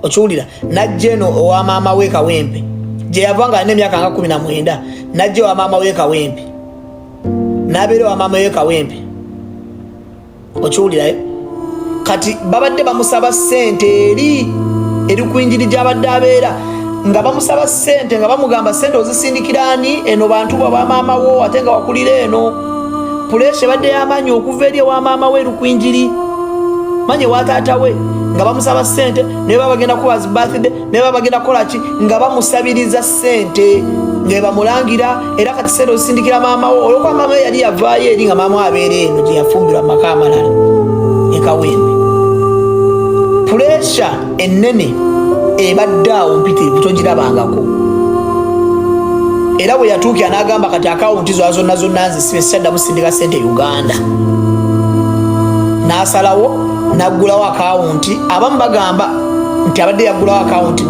okiwulira najja eno owa maama we kawempe gye yava nga alina emyaka nga kumi na mwenda najja owa maama we kawempe nabeera owa maama we kawempe okiwulirayo kati babadde bamusaba sente eri eri ku injiri gyabadde abeera nga bamusaba sente nga bamugamba sente ozisindikira ani eno bantu bwe bamaama wo ate nga wakulira eno puleesa ebadde yamaanyi okuva eri ewa maama we lukwinjiri manye wa taata we nga bamusaba sente naye baba bagenda kuba zi birthday naye baba bagenda kukola ki nga bamusabiriza sente nga bamulangira era kati sente osindikira maama wo olwokuba maama yali yavaayo eri nga maama abeera eno gye yafumbirwa mu maka amalala ekawembe puleesa ennene ebadde awo mpitirivu togirabangako era bwe yatuukira n'agamba kati akawunti zona zonna zonna nzisibe saddamu sindika sente e uganda n'asalawo n'aggulawo akawunti abamu bagamba nti abadde yaggulawo akawunti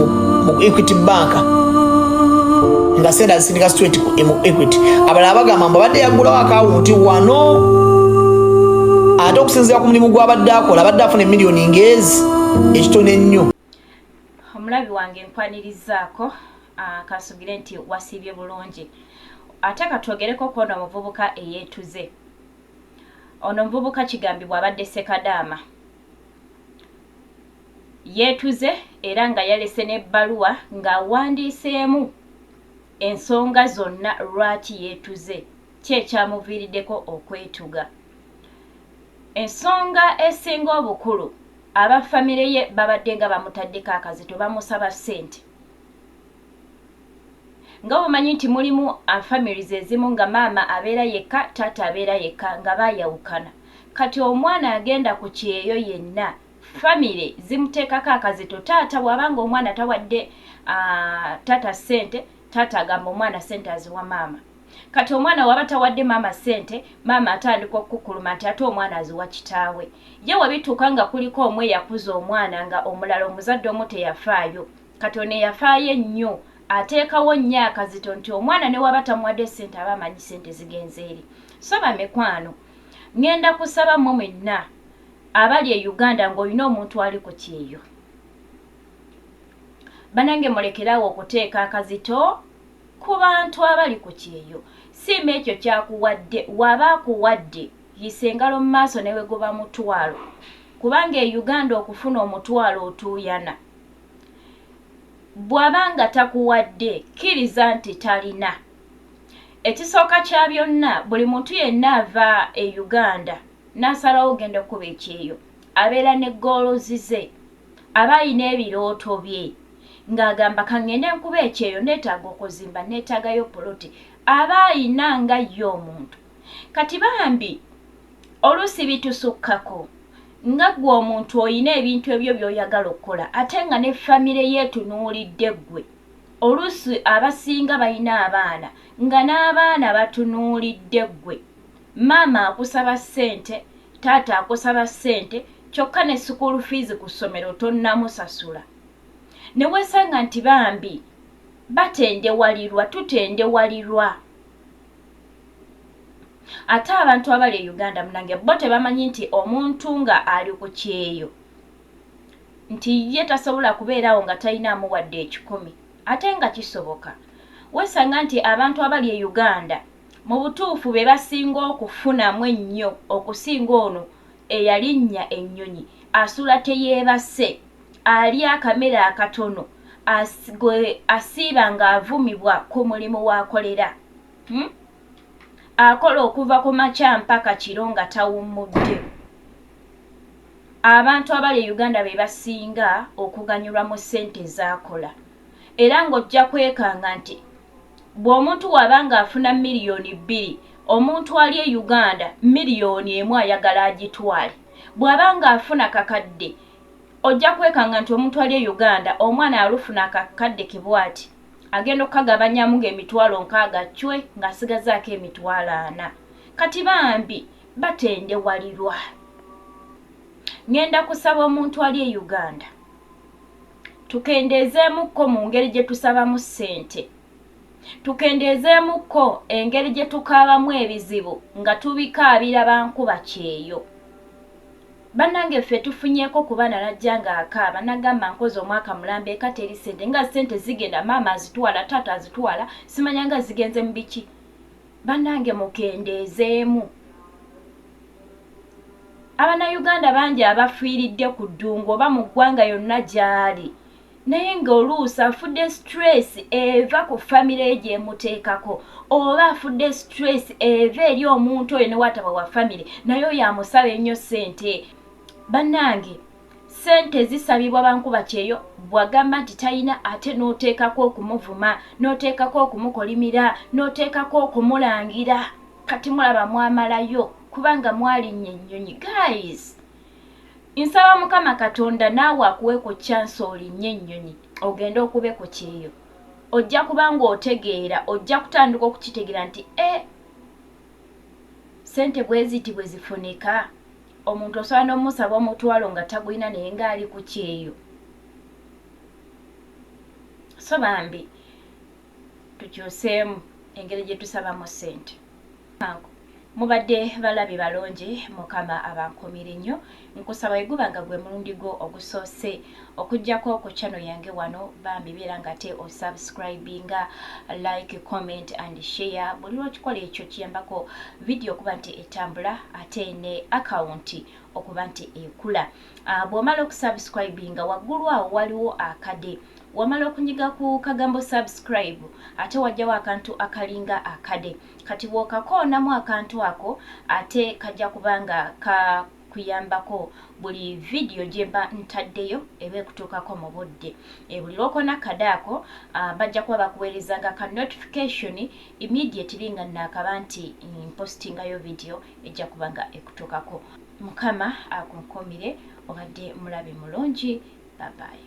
mu equity bank nga sente azisindika straight e mu equity abalala bagamba mbu abadde yaggulawo akawunti wano ate okusinzira ku mulimu gw'abadde akola abadde afuna emiliyoni ngezi ekitono ennyo omulabi wange nkwanirizaako ah, kansubire nti wasiibye bulungi ate katwogereko kwono omuvubuka eyeetuze ono omuvubuka kigambibwa abadde sekadaama yeetuze era nga yalese n'ebbaluwa ng'awandiiseemu ensonga zonna lwaki yeetuze ki ekyamuviiriddeko okwetuga. Ensonga esinga obukulu aba famire ye babaddenga bamutaddeko akazito bamusaba ssente. Nga bwomanyi nti mulimu families ezimu nga maama abeera yekka, taata abeera yekka nga baayawukana. Kati omwana agenda ku kyeyo yenna famire zimuteekako akazito. Taata bw'aba ng'omwana tawadde taata ssente, taata agamba omwana ssente aziwa maama. kati omwana waba tawadde maama ssente maama atandika okukukuluma nti ate omwana aziwa kitaawe ye webituuka nga kuliko omu eyakuza omwana nga omulala omuzadde omu teyafaayo kati ono eyafaayo ennyo ateekawo nnyo akazito nti omwana newaba tamuwadde ssente aba amanyi ssente zigenze eri so bamekwano ŋŋenda kusaba mwe mwenna abali e uganda ng'olina omuntu ali ku kyeyo banange mulekeraawo okuteeka akazito ku bantu abali ku kyeyo siima ekyo kyakuwadde waaba akuwadde yisa engalo mu maaso newegoba mutwalo kubanga e uganda okufuna omutwalo otuuyana bwaba nga takuwadde kkiriza nti talina ekisooka kya byonna buli muntu yenna ava e uganda n'asalawo ogenda okukuba ekyeyo abeera ne goolozi ze Aba ayina ebirooto bye nga agamba kangende nkube ekyeyo netaaga okuzimba netaagayo poloti aba ayina nga ye omuntu kati bambi oluusi bitusukkako nga ggwe omuntu oyina ebintu ebyo byoyagala okukola ate nga ne famire yo etunuulidde ggwe oluusi abasinga bayina abaana nga n'abaana batunuulidde ggwe Maama akusaba ssente, taata akusaba ssente kyokka ne sikuulu fiizi ku ssomero tonnamusasula. Ne weesanga nti bambi batendewalirwa, tutendewalirwa. Ate abantu abali e Uganda munange bo tebamanyi nti omuntu nga ali ku kyeyo nti ye tasobola kubeerawo nga talinaamu wadde ekikumi ate nga kisoboka. Weesanga nti abantu abali e Uganda Mu butuufu be basinga okufunamu ennyo okusinga ono eyalinnya ennyonyi. Asula teyeebase, alya akamere akatono, asiiba ng'avumibwa ku mulimu w'akolera, akola okuva ku makya mpaka kiro nga tawummudde. Abantu abali e Uganda be basinga okuganyulwa mu ssente z'akola era ng'ojja kwekanga nti, Bw'omuntu w'aba ng'afuna miliyoni bbiri, omuntu ali e Uganda miliyoni emu ayagala agitwale. Bw'aba ng'afuna kakadde, ojja kwekanga nti omuntu ali e Uganda omwana alufuna akakadde ke bwati, agenda okukagabanyamu ng'emitwalo nkaaga ccwe ng'asigazaako emitwalo ana. Kati bambi batendewalirwa. Ngenda kusaba omuntu ali e Uganda. Tukendeezeemukko mu ngeri gye tusabamu ssente. Tukendeezeemukko engeri gye tukaabamu ebizibu nga tubikaabira ba nkuba kyeyo. Bannange ffe tufunyeeko ku baana n'ajja ng'akaaba n'agamba nkoze omwaka mulamba eka teri ssente nga ssente zigenda maama azitwala taata azitwala simanyanga zigenze mu biki. Banange mukendeezeemu. Abanayuganda bangi abafiiridde ku ddungu oba mu ggwanga yonna gy'ali naye ng'oluusi afudde situleesi eva ku famire ye gy'emuteekako oba afudde situleesi eva eri omuntu oyo ne wataba wa famire naye oyo amusaba ennyo ssente bannange. ssente zisabibwa bankuba kyeyo bwagamba nti talina ate n'oteekako okumuvuma n'oteekako okumukolimira n'oteekako okumulangira kati mulaba mwamalayo kubanga mwalinnya ennyonyi guys nsaba mukama katonda naawe akuwe ku kyansi olinnye ennyonyi ogende okube ku kyeyo ojja kuba ng'otegeera ojja kutandika okukitegeera nti e eh, ssente bweziti bwe zifunika Omuntu osobola n'omusaba omutwalo nga tagulina naye ng'ali ku kyeyo. So bambi tukyuseemu engeri gye tusabamu ssente. Mubadde balabi balungi, Mukama abankuumire nnyo. Nkusaba bwe guba nga gwe mulundi gwo ogusoose Okujjako ku channel yange wano bambi beera ngate o subscribinga, like, comment and share buli lwokikola ekyo kiyambako video okuba nti etambula ate ne account okuba nti ekula. Ah, bwomala okusubscribinga waggulu awo waliwo akade wamala okunyiga ku kagambo subscribe ate wajjawo akantu akalinga akade kati bwokakoonamu akantu ako ate kajja kubanga ka kuyambako buli vidiyo gye mba ntaddeyo eba ekutuukako mu budde e, buli lw'okoona kkada ako uh, bajja kuba bakuweereza nga ka notification immediately nga naakaba nti mpostingayo vidiyo ejja kuba nga ekutuukako mukama akunkuumire obadde mulabi mulungi babayi